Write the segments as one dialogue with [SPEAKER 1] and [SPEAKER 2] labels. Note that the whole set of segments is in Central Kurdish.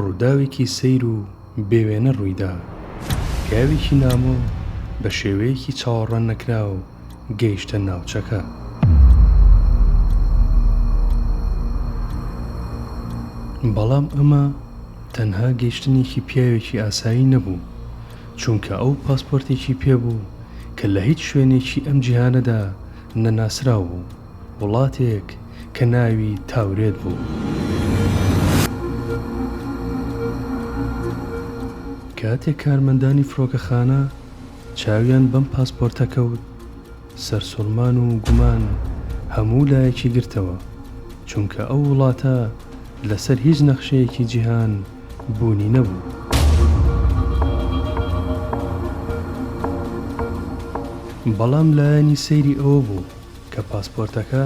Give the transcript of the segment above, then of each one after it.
[SPEAKER 1] ڕووداوێکی سەیر و بێ وێنە ڕوویدا. پیاوێکی نامۆ بە شێوەیەکی چاوەڕواننەکراو گەیشتە ناوچەکە. بەڵام ئەمە تەنها گەیشتنێکی پیاوێکی ئاسایی نەبوو، چونکە ئەو پاسپۆرتێکی پێبوو کە لە هیچ شوێنێکی ئەم جیهانەدا نەناسراو بوو. وڵاتێک کە ناوی تاورێت بوو کاتێک کارمەندانی فرۆکەخانە چاویان بەم پاسپۆرتە کەوت سەرسوڕمان و گومان هەموو لایەکی گرتەوە چونکە ئەو وڵاتە لەسەر هیچ نەخشەیەکی جیهان بوونی نەبوو بەڵام لایەنی سەیری ئەوە بوو کە پاسپۆرتەکە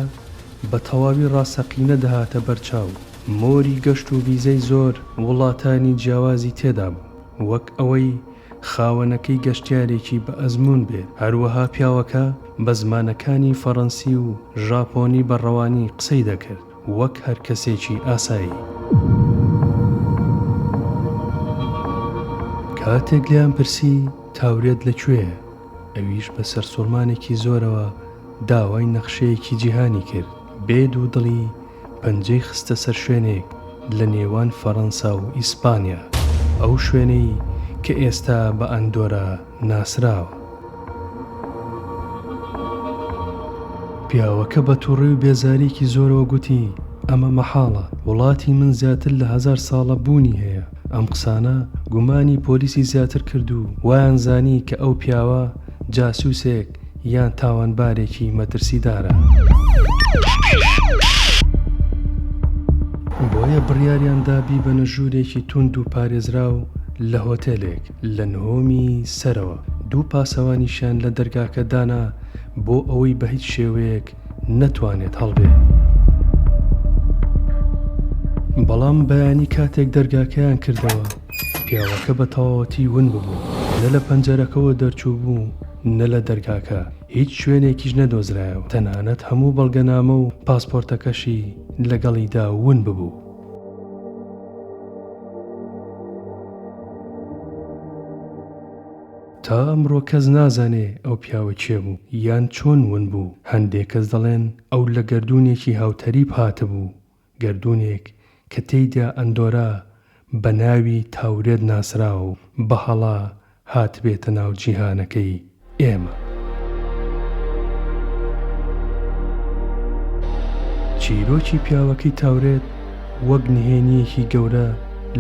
[SPEAKER 1] بە تەواوی ڕاستەقینە دەهاتە بەر چاو، مۆری گەشت و ڤیزەی زۆر وڵاتانی جیاوازی تێدا بوو، وەک ئەوەی خاوەنەکەی گەشتیارێکی بە ئەزموون بێت، هەروەها پیاوەکە بە زمانەکانی فەڕەنسی و ژاپۆنی بە ڕەوانی قسەی دەکرد وەک هەر کەسێکی ئاسایی. کاتێک لێیان پرسی تاورێت لە کوێیە؟ ئەویش بە سەرسوڕمانێکی زۆرەوە داوای نەخشەیەکی جیهانی کرد. بێ دوو دڵی پەنجەی خستە سەر شوێنێک لە نێوان فەڕەنسا و ئیسپانیا، ئەو شوێنەی کە ئێستا بە ئەندۆرا ناسراوە. پیاوەکە بە توڕی و بێزارییەکی زۆرەوە گوتی، ئەمە مەحاڵە. وڵاتی من زیاتر لە هەزار ساڵە بوونی هەیە. ئەم قسانە گومانی پۆلیسی زیاتر کرد و وایان زانی کە ئەو پیاوە جاسوسێک یان تاوانبارێکی مەترسیدارە. بۆیە بڕیاریان دا بیبەنە ژوورێکی توند و پارێزراو لە هۆتێلێک لە نهۆمی سەرەوە. دوو پاسەوانیشیان لە دەرگاکە دانا بۆ ئەوەی بە هیچ شێوەیەک نەتوانێت هەڵبێ. بەڵام بەیانی کاتێک دەرگاکەیان کردەوە، پیاوەکە بە تەواوەتی ون ببوو، نە لە پەنجەرەکەوە دەرچوو بوو، نە لە دەرگاکە، هیچ شوێنێکیش نەدۆزرایەوە، تەنانەت هەموو بەڵگەنامە و پاسپۆرتەکەشی لەگەڵیدا ون ببوو. تا ئەمڕۆ کەس نازانێ ئەو پیاوە کێ بوو یان چۆن ون بوو، هەندێک کەس دەڵێن ئەو لە گەردوونێکی هاوتەریب هاتبوو، گەردوونێک کە تێیدا ئەندۆرا بە ناوی تاورێت ناسراو بە هەڵە هاتبێتە ناو جیهانەکەی ئێمە. چیرۆکی پیاوەکەی تاورێت وەک نهێنییەکی گەورە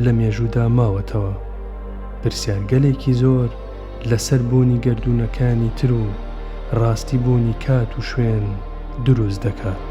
[SPEAKER 1] لە مێژوودا ماوەتەوە، پرسیارگەلێکی زۆر لەسەر بوونی گەردوونەکانی تر و ڕاستی بوونی کات و شوێن دروست دەکات.